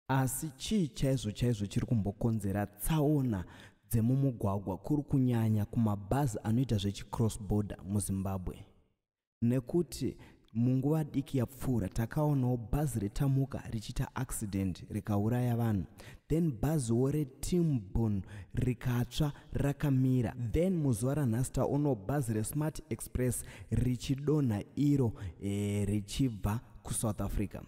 Asi chii chaizvo chaizvo chiri kumbokonzera tsaona dzemumugwagwa kuri kunyanya kumabhazi anoita zvechicross border muzimbabwe nekuti munguva diki yapfuura takaonawo bhazi retamuka richiita accident rikauraya vanhu then bhaziwo retimbon rikatsva rakamira then muzuva ranhasi taonawo bhazi resmart express richidonha iro e, richibva kusouth africa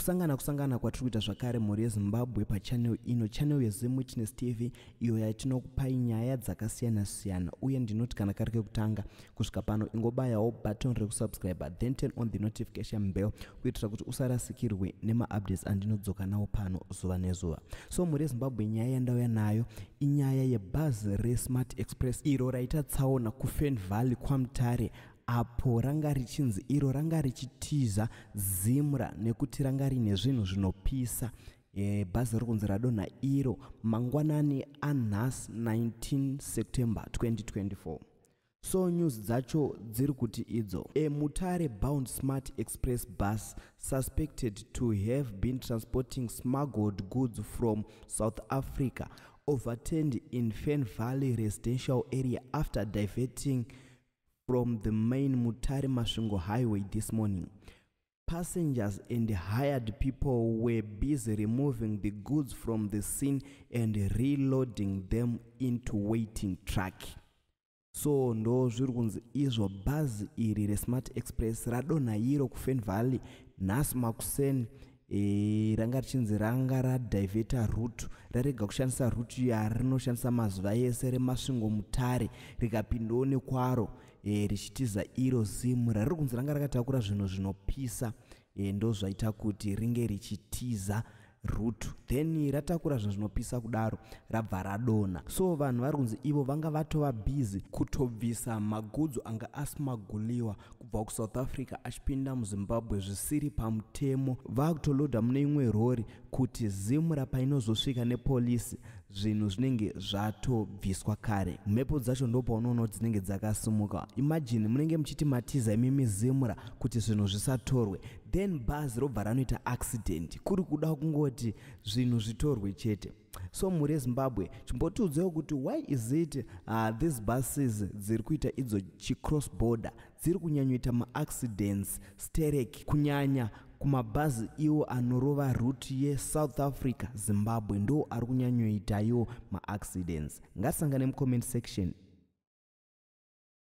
kusangana kusangana kwatiri kuita zvakare mhuri yezimbabwe pachanel ino chanel yezim witness tv iyo yatinokupai nyaya dzakasiyana-siyana uye ndinoti kana kari kekutanga kusvika pano ingobayawo button rekusubscribe then turn on the notification bell kuitira kuti usarasikirwe nemaupdates andinodzoka nawo pano zuva nezuva so mhuri yezimbabwe nyaya yandauya nayo inyaya yebhazi resmart express iro raita tsaona kufen valley kwamutare apo ranga richinzi iro ranga richitiza zimra nekuti ranga rine zvinhu zvinopisa e, bhazi riri kunzi radonha iro mangwanani anhas 19 september 2024 so news dzacho dziri kuti idzo a mutare bound smart express bus suspected to have been transporting smuggled goods from south africa overturned in fen valley residential area after diverting from the main Mutare Masvingo highway this morning. Passengers and hired people were busy removing the goods from the scene and reloading them into waiting truck. so ndo zviri kunzi izvo bhazi iri resmart express radonha iro kufan valley nhasi makuseni E, ranga richinzi ranga radivheta root rarega kushandisa root yarinoshandisa mazuva ese remasvingo mutare rikapindawo nekwaro e, richitiza iro zimu rariri kunzi ranga rakatakura zvinhu zvinopisa e, ndo zvaita kuti ringe richitiza root then ratakura zvinhu zvinopisa kudaro rabva radona so vanhu vari kunzi ivo vanga vatova busy kutobvisa magudzo anga asimaguliwa kubva kusouth africa achipinda muzimbabwe zvisiri pamutemo vakutoloda mune imwe rori kuti zimra painozosvika nepolisi zvinhu zvinenge zvatobviswa kare mhepo dzacho ndopaunoona dzinenge dzakasimuka imajini munenge muchiti matiza imimi zimra kuti zvinhu zvisatorwe then bhazi robva ranoita accident kuri kuda kungoti zvinhu zvitorwe chete so mhuri yezimbabwe chimbotiudzewo kuti why is it uh, these buses dziri kuita idzo chicross border dziri kunyanyoita maaccidents sterek kunyanya kumabhazi iwo anorova ruti yesouth africa zimbabwe ndo ari kunyanyoitayo maaccidents ngasangane mucomment section